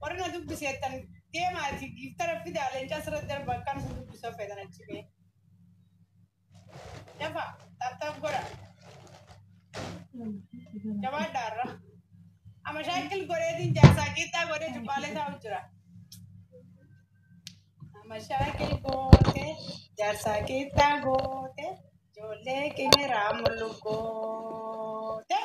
Warri na dubbiseettan deemaati giiftara fidaa leencaa sirratti darba akkaan isin dubbisa feetan achi bee. Dafa taaptaap godha. Jabaadhaa irra. Amma shaakil godheetiin jaarsaa qixxaa godhee cubbaalee taa'u jira. Amma shaakil gootee jaarsaa qixxaa gootee ijoollee qinirraa mul'u gootee.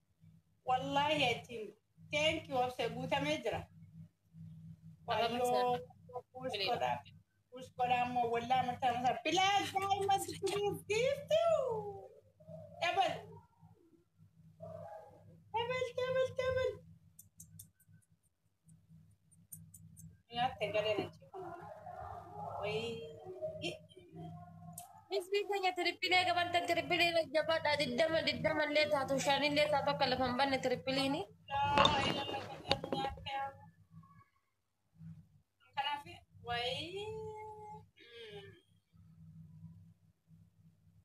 Wallaahi jechuun thank you obse guutamee jira. Wayyoo kuus godhaa kuus godhaa immoo wallaa mataa mataa bilaa daa'ima dukkunuuf giiftuu dabal dabal dabal dabal. Nyaate galee na jeeqan. Wayii. Isbii keenya tiripilee gabartan tiripilee jabadha diddama diddama illee taatu shan illee taatu akka lafa hin banne tiripiliini. Laa ilala galee nyaate. Kanaaf wayii.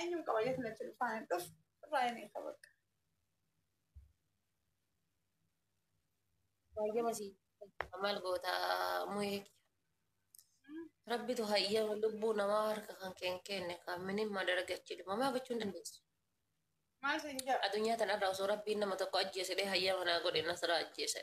Eenyuun qaba jechuun achi dhufaan hin dhufu irraa hin eega bakka. Baay'ee masii. Maal goota muhee Rabbitu hayyama lubbuu namaa harka kan keen kenne kan minimma dargachi dhumama gochuu hin dandeessu. Maal isin jedha? Addunyaa tanarraa osoo rabbiin nama tokko ajjeesedhee hayyama naa godhe nasara ajjeese.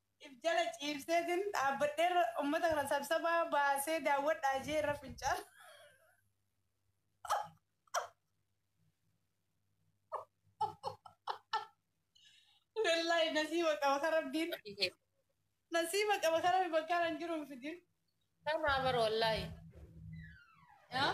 if jala ciibseetin dhaabbadhee irra ummata kana sabsabaa baasee daawwadhaa jee irra fincaan. Wallahi nasiiba qaba kan rabbiin nasiiba qaba kan rabbi bakka kan jiru hin fidin. Kanaa bar wallaahi. Yaa?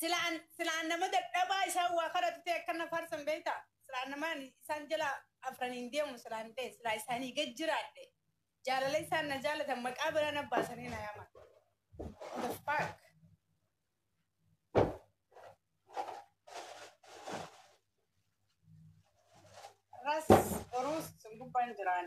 Silaan silaan nama dadhabaa isaan waa kadhatu ta'e akka na faarsan beektaa? Silaan nama ani isaan jala afraniin deemu silaan ta'e silaa isaanii gad jiraadhe. Jaalala isaan na jaalatan maqaa biraa na baasanii na yaaman. What the fuck? Ras Orus sun gubbaan jiraan.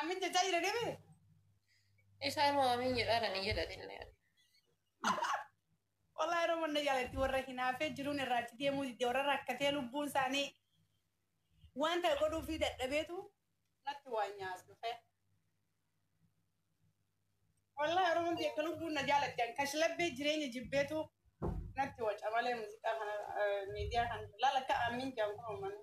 Amin jechaa jira deebi'e. Isaa immoo amiin jedhaa dhani jedhatillee. Wallahi yeroo manna jaalatti warra hinaafee jiruun irraatti deemuu didde warra rakkatee lubbuun isaanii waan ta'e godhuu fi dadhabeetu natti waan nyaas dhufe. Wallahi yeroo hundi akka lubbuun na jaalatti an kashlabbee jireenya jibbeetu natti waca malee muuziqaa kana miidiyaa kan laala akka aamiin jaan kun uummanni.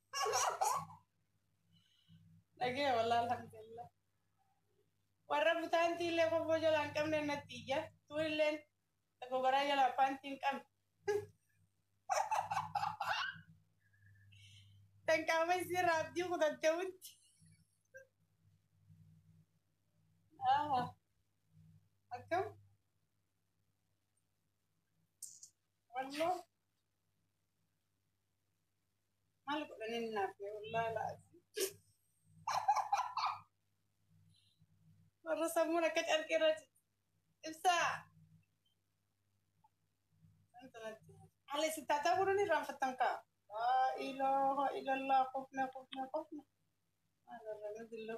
Dhagee walaa alhamdulillah. Warra butaantii illee kobboo jalaa hin qabne natti iyya. Tuun illee gogaraa jalaa paantii hin qabne. Kan qaama isii raabdii kutattee wutti. Ah, Akkam? Walloo. Maal godhaniin naaf ta'e wallaahi laazim. Warra sammuun akka carqii irra jira. Ibsaa. Haala isin taataa godhan irraan fattan kaa. Laa ilaaha illallah kofne kofne kofne. Maal irra nu dillu.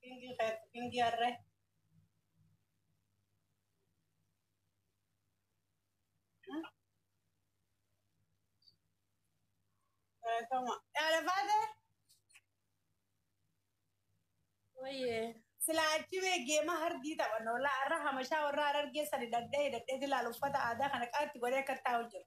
Pingi keetti pingi harree. Galatoma. Dhaala baatee? Wayyee. Silaa achi bee geema hardii taphanna. Walaa har'a hamashaa warra harargee sadi dhadhee hidhadhee silaa uffata aadaa kana qaatti godhee akka taa'u jira.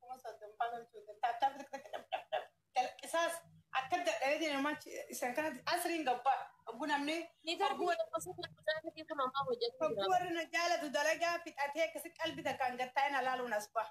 kuma soddomfaa loltuu jette akka dalqisaas akka dadhabee deemu machi isan kanatti asriin gabbaa oggu namni Ni garbi oggu warri gosa kana kutaa sadii kun ammaa hojjechuu oggu jira. warri na jaalatu dalagaa fixatee akkasi qalbi takkaan gattaa hin alaaluun as ba'a.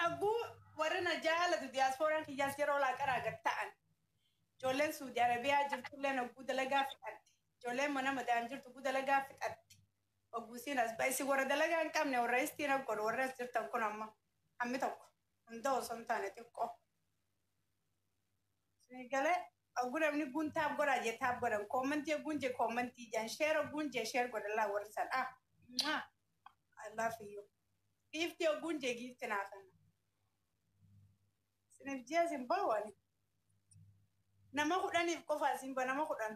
Dhagguu warri na jaalatu diyaaspooraan kiyyaas yeroo laaqaraa gad ta'an ijoolleen Suudi Arabiyaa jirtulleen hogguu dalagaa fixatte ijoolleen mana madaan jirtu hogguu dalagaa fixatte hogguu isiin as ba'e isin warra dalagaa hin qabne warra istiin as godhu warri as jirtan kun amma hammi tokko hunda osoo hin taane xiqqoo. Isin galee hogguu namni guun taap godhaa jee taap godhan koommantii hogguun jee koommantii jaan sheer hogguun jee sheer godhan laa warri san ah. I love you. Giiftii ogguun jee giifti naafanna. Isiniif ji'a isin bahu ani. Nama kudhaniif qofa isin ba nama kudhan.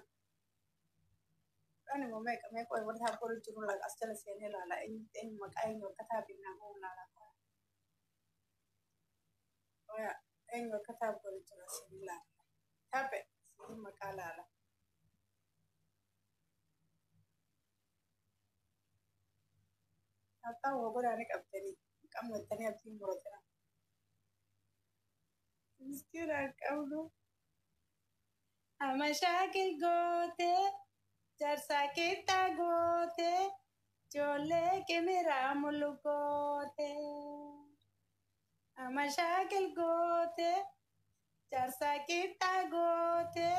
Kudhan immoo meeqa meeqa wayii wal taa boru jiru laga as jala seenee ilaala eenyu eenyu maqaa eenyu akka taa binnaa bahu ilaala. Oya eenyu akka taa boru jiru as ilaala. Tape isin maqaa ilaala. Hatta waa godhaani qabdanii qammattanii abdiin muratina. Miskiin haa qabdu. Amma shaakil gootee jarsaa qixxaa gootee ijoollee qimiraa mulu gootee. Amma shaakil gootee jarsaa qixxaa gootee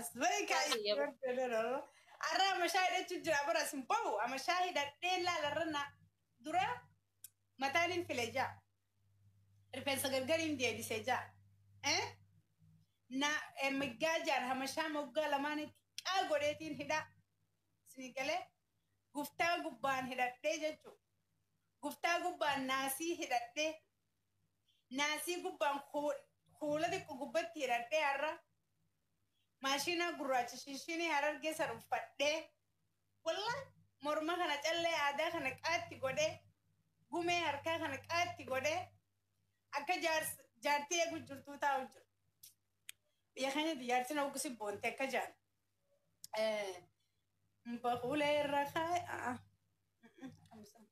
Asbarikaa Baay'ee yeroo. yeroo Arra amashaa hidhachuu jira bara isin bahu amashaa hidhadhee laala irra na dura mataan hin file jaa. Rifeensa gargari hin deebise jaa. Eh? Na eh, miggaa jaan hamashaa moggaa lamaanitti qaa godheetiin hidhaa. Isin galee guftaa gubbaan hidhadhee jechuudha. Guftaa gubbaan naasii hidhadhee. Naasii gubbaan kuula xiqqo gubbatti hiradhee har'a maashiinaa gurraacha shinshiinii harargee san uffadhee wallah morma kana callee aadaa kana qaatti godhee gumee harkaa kana qaatti godhee akka jaartii eegu jirtuu taa'u jiru. Biyya keenyatti jaartiin hoggusi boonte akka jaan. Baqulee irra kaa'e.